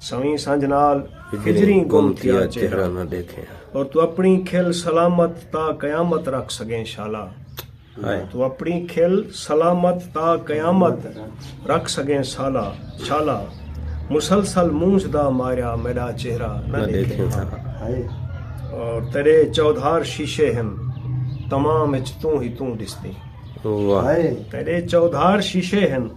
سویں سنجھ نال ہجریں گم تھیا چہرہ نہ دیکھیں اور تو اپنی کھل سلامت تا قیامت رکھ سگیں شالا تو اپنی کھل سلامت تا قیامت رکھ سگیں سالا شالا مسلسل مونج دا ماریا میرا چہرہ نہ دیکھیں اور تیرے چودھار شیشے ہم تمام اچ توں ہی توں دستی تیرے چودھار شیشے ہم